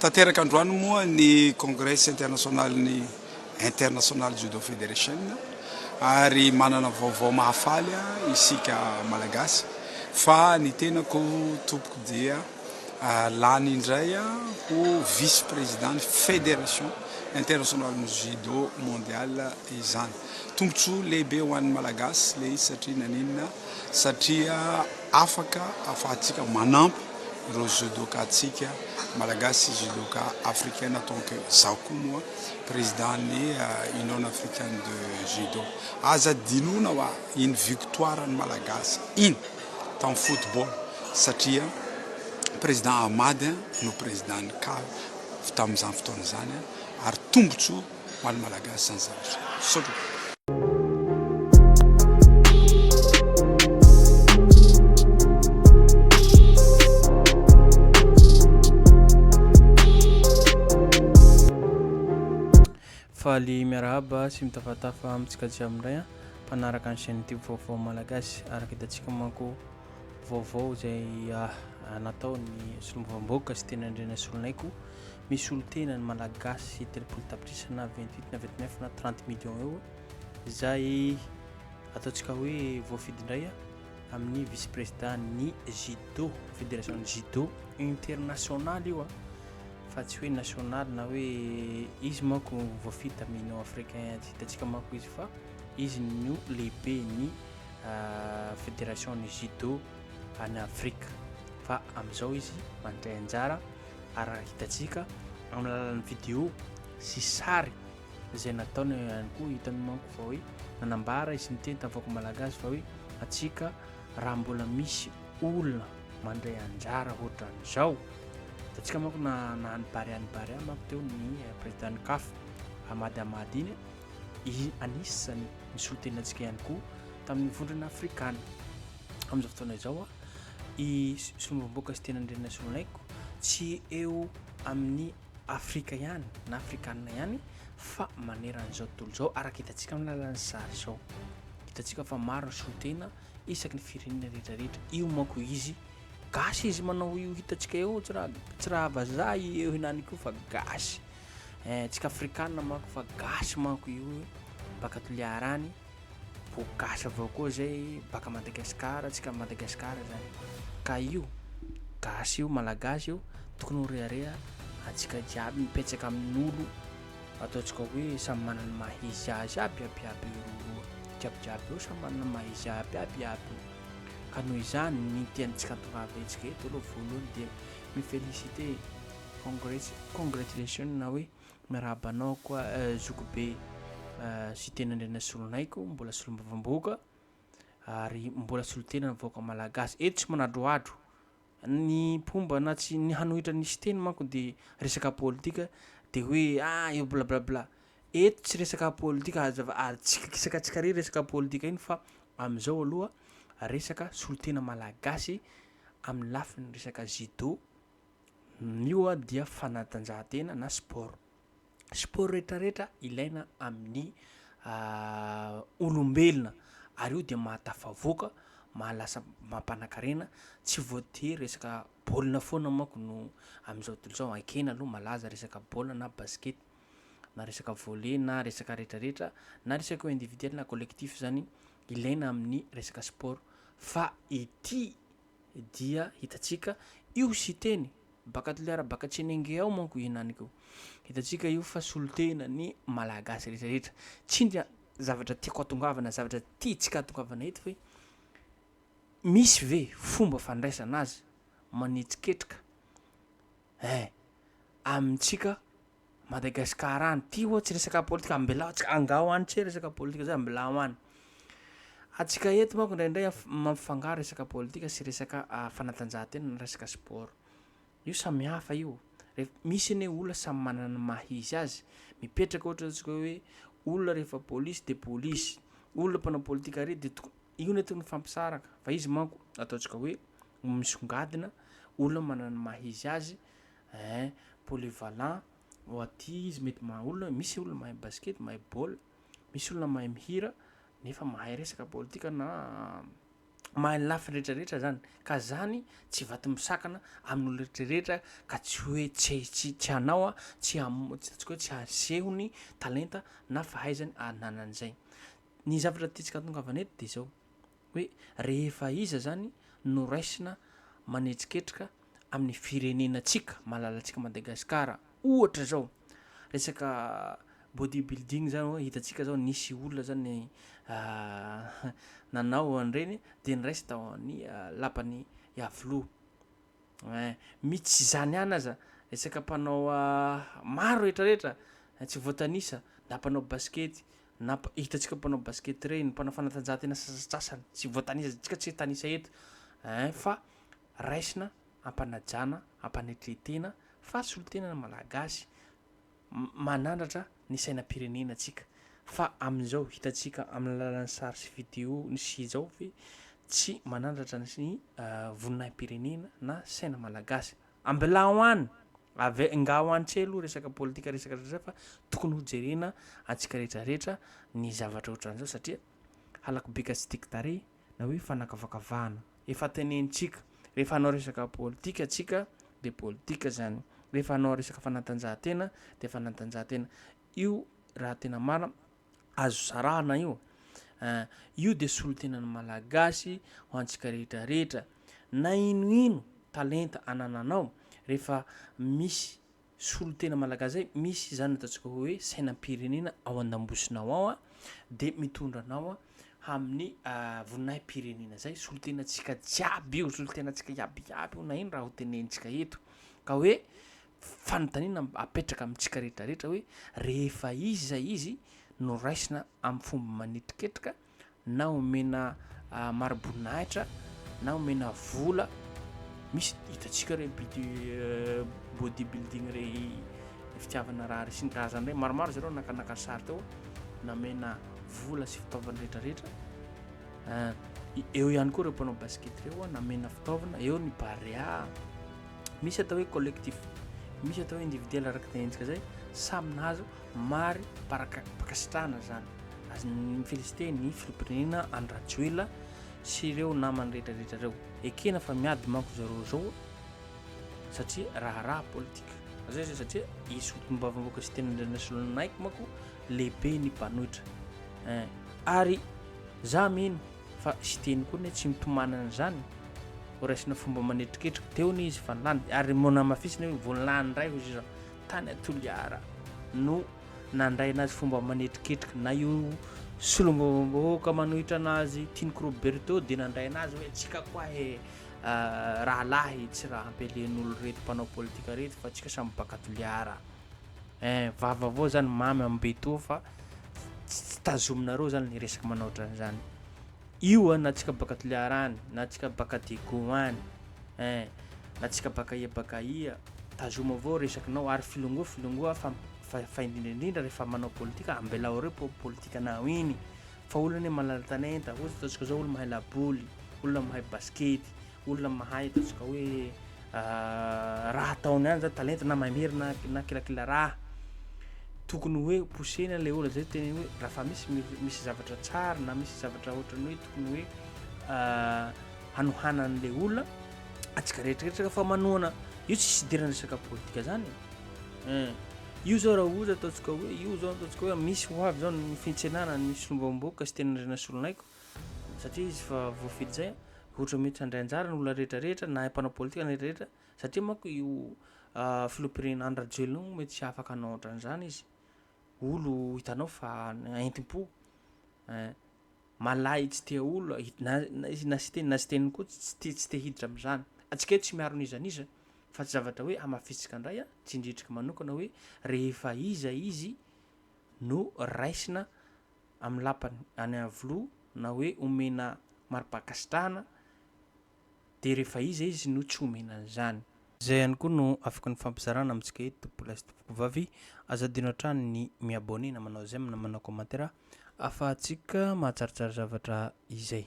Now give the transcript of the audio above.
Tanteraka androany moa ny Congrès internasionalin'ny International Judo Federation ary manana vaovao mahafaly isika Malagasy fa ny tenako tompoko dia lany indray ho vice président ny Fédération internasionalin'ny Judo mondial izany. Tombotsoa lehibe ho an'ny Malagasy ilay izy satria naninona? Satria. Afaka afahantsika manampy ireo judoka ntsika Malagasy sy judoka africaine en tant que izaho koa moa président ny union africaine de judo. Aza adinoina hoa iny victoire ny Malagasy iny tam football satria président Ahmad no président ny caf tamin'izany fotoana izany ary tombotsoa ho an'ny Malagasy izany zavatra izany. Misaotra. Faly miarahaba sy mitafatafa amintsika jiaby indray an mpanaraka ny chaîne youtube vaovao malagasy araka hitantsika manko vaovao izay ah, ah, natao ny solombavambahoaka sy teny andrena solonay koa misolo tena ny Malagasy telopolo tapitrisa na vingt huit na vingt neuf na trente millions eo izay ataontsika hoe voafidy indray amin'ny vice président ny judo fédération ny judo international io a fa tsy hoe national na hoe izy manko voafidy tamin'ny union africain tsy hitantsika manko izy fa izy no lehibe ny euh, fédération ny judo any Afrika fa amin'izao izy mandray anjara araka hitantsika amin'ny alalan'ny vidéo sy sary izay nataony ihany koa hitany manko fa hoe nanambara izy niteny tamin'ny vahoaka malagasy fa hoe antsika raha mbola misy olona mandray anjara hoatran'izao hitantsika manko na na any barea any barea manko teo ny eh, présidentn'ny CAF Amady Amady iny i anisany misolo tena antsika ihany koa tamin'ny vondrona afrikana Amin'izao fotoana izao, i Solombavambahoaka Siteny Andrianasoloniaiko tsy eo amin'ny Afrika ihany na Afrikana ihany fa maneran'izao tontolo izao, araka hitantsika amin'ny alalan'ny sary izao. Hitantsika fa maro ny solontena isaky ny firenena rehetra rehetra. Io manko izy gasy izy manao io hitantsika eo, tsy raha tsy raha vazaha io henany io fa gasy. Eh, tsika Afrikana manko fa gasy manko io, baka Toliara any. Vao gasy avao koa zay baka Madagascar tsika Madagascar zany ka io gasy io malagasy io tokony ho rehareha atsika jiaby mipetsaka amin'olo ataontsika hoe samy manana ny maha izy azy aby aby aby io jiaby jiaby io samy manana ny maha izy aby aby aby io ka noho izany ny tiantsika hatongavantsika eto aloha voalohany dia mi-féliciter congratulations na hoe Miarahaba anao koa zokibe Siteny Andrianasolonaiko, mbola solombavambahoaka ary mbola solotena ny vahoaka malagasy. Eto tsy manadrohadro. Ny mpomba na tsy ny hanohitra ny Siteny manko dia resaka politika dia hoe ah eo blablabla. Eto tsy resaka politika hazava ary tsy kikisaka tsy kare resaka politika iny fa amin'izao aloha resaka solotena malagasy amin'ny lafiny resaka judo Ny io dia fanatanjahantena na sport. Sport rehetra rehetra ilaina amin'ny olombelona ary io dia mahatafavoaka, maha lasa mampanakarena, tsy voatery resaka baolina foana manko no amin'izao tontolo izao, ekena aloha malaza resaka baolina na basket na resaka volley na resaka rehetra rehetra na resaka individuel na collectif zany ilaina amin'ny resaka sport fa ity. dia hitantsika io Siteny baka Toliara baka Tsenenge ao manko henany ko. Hitantsika io fa solontena ny Malagasy rehetra rehetra. Tsindia zavatra tiako atongavana zavatra tiantsika atongavana eto hoe misy ve fomba fandraisana azy manetsiketrika eh amintsika Madagascar any ty oa tsy resaka politika ambelao atsika angao any tsy resaka politika zay ambelao any atsika eto manko indraindray mampifangaro resaka politika sy resaka ah, fanatanjahantena na resaka sport io samy hafa io ref misy anie olona samy manana ny maha izy azy mipetraka ohatra atsika hoe olona rehefa polisy de polisy olona mpanao politika re de toko io ny atao ny fampisaraka fa izy manko ataontsika hoe misongadina olona manana ny maha izy azy Eeh polyvalent oh aty izy mety maha olona misy olona mahay basket mahay baolina misy olona mahay mihira nefa mahay resaka politika na mahay ny lafiny retraretra zany ka zany tsy vato misakana amin'ny olona retraretra ka tsy hoe tsy tsy tsy hanao a tsy hamo- ataontsika hoe tsy haseho ny talenta na fahaizany ananan'izay ny zavatra tiantsika atongavana eto de zao hoe rehefa iza zany no raisina manetsiketrika amin'ny firenenantsika, malalantsika Madagasikara. Ohatra zao, resaka body building zany hoe hitantsika zao nisy olona zany nanao an'ireny dia niraisy tao amin'ny lapan'i Iavoloha. Hein, mihi tsy izany ihany aza, resaka mpanao maro retraretra, tsy voatanisa, na mpanao basikety, Namp, Hitantsika mpanao basket reny, mpanao fanatanjahantena sasatsasany tsy voatanisa, tsika tsy hitanisa eto ein, fa raisina ampanajana, ampanetretena fa solontenana malagasy, manandratra ny sainam-pirenena tsika, fa amin'izao hitantsika amin'ny alalan'ny sary sy video ny sy izao ve tsy manandratra ny voninahim-pirenena na saina malagasy. Ambilao an! Ave engaho an tsy aloha resaka politika resaka zay fa tokony ho jerena antsika rehetra rehetra ny zavatra ohatran'izao satria halako be ka tsy tiako tarehy na hoe fanakavakavahana. Efa tenenintsika rehefa hanao resaka politika tsika de politika zany, rehefa hanao resaka fanatanjahantena de fanatanjahantena. Io raha tena marina azo sarahana io an, io dia solotenan'ny Malagasy ho antsika rehetra rehetra na ino ino talenta anananao rehefa misy solotena Malagasy zay, misy izany ataontsika hoe sainam-pirenena ao andambosinao ao an, dia mitondra anao an amin'ny voninahim-pirenena zay, solotenantsika jiaby io, solotenantsika iaby iaby io na ino raha ho tenentsika eto ka hoe fanontaniana apetraka amintsika rehetra rehetra hoe rehefa izy izay izy no raisina amin'ny fomba manetiketrika na omena ah, mariboninahitra na omena vola misy hitantsika re body euh, body building re fitiavana raha resy ny karazany re maromaro zareo nakanaka sary teo namena vola sy fitaovana rehetra rehetra ah, i- eo ihany koa ireo mpanao basket ireo a, namena fitaovana eo ny barea Misy atao hoe collectif, misy atao hoe individuel araka izay endrika izay, samy nahazo mari-pankasitrahana izany. Azo mi-féliciter ny filoham-pirenena Andry Rajoelina sy ireo namany rehetrarehetra ireo. Ekena fa miady manko zareo izao satria raharaha politika. Zay zay satria i Solombavambahoaka sy Tenanindrandrasoloninaiko manko lehibe ny mpanohitra. Ary za mino Fa Siteny koa anie tsy mitomany an'izany, horaisina fomba manetriketrika, teo anie izy fa lany, ary moa namafisina hoe vao lany indray hoy Jean, tany a Toliara no nandraina azy fomba manetriketrika, na io Solombavambahoaka manohitra anazy Tiniko Roberto dia nandray anazy hoe tsika koa he rahalahy tsy raha hampialen'olo reto mpanao politika reto fa tsika samy baka Toliara. eh, vava avao zany mamy amin'ny be toa fa tsy tazominareo zany le resaka manao ohatran'izany io a na tsika baka toliara any na tsika baka dego any eh, na tsika baka ia baka ia tazoma avao resakinao ary filongoa filongoa fa fa indrindra indrindra rehefa manao politika ambelao reo po politika nao iny fa olona ne malala talenta ohatsy ataontsika zao olo mahay laboly olona mahay baskety olona mahay ataontsika hoe ah, raha ataony ihany zany talenta na maimery na na kilakila raha tokony hoe posena ilay olona zay tena hoe raha fa misy mi- misy zavatra tsara na misy zavatra ohatrany hoe tokony hoe ah, hanohanan'ilay olona atsika rehetrarehetra fa manohana io tsy sidirana resaka politika zany Eh, io zao raha ohatra ataontsika hoe io zao ataontsika hoe misy ho avy zao ny fintsenana ny solombavam-bahoaka sy tena rena solon'aiko Satria izy efa voafidy izay, ohatra mety handray anjara ny olona rehetra rehetra na mpanao politika na rehetra rehetra, satria manko io filoham-pirenena Andry Rajoelina io mety tsy afaka hanao ohatran'izany izy, olo hitanao fa entim-po eh, malahy tsy tia olo, izy na siteny na siteny koa tsy tia tsy tia hiditra amin'izany, antsika eto tsy miaro n'iza n'iza fa tsy zavatra hoe hamafisintsika indray ah, tsindriantsika manokana hoe rehefa iza izy no raisina. amin'ny lapany any Iavoloha na hoe omena mari-pankasitrahana dia rehefa iza izy no tsy omena an'izany. Izay ihany koa no afaka nifampizarana amintsika eto Tompo lahy sy Tompoko vavy, aza adino hatrany ny mi abonner na manao j'aime na manao commentaire afahantsika mahatsaratsara zavatra izay.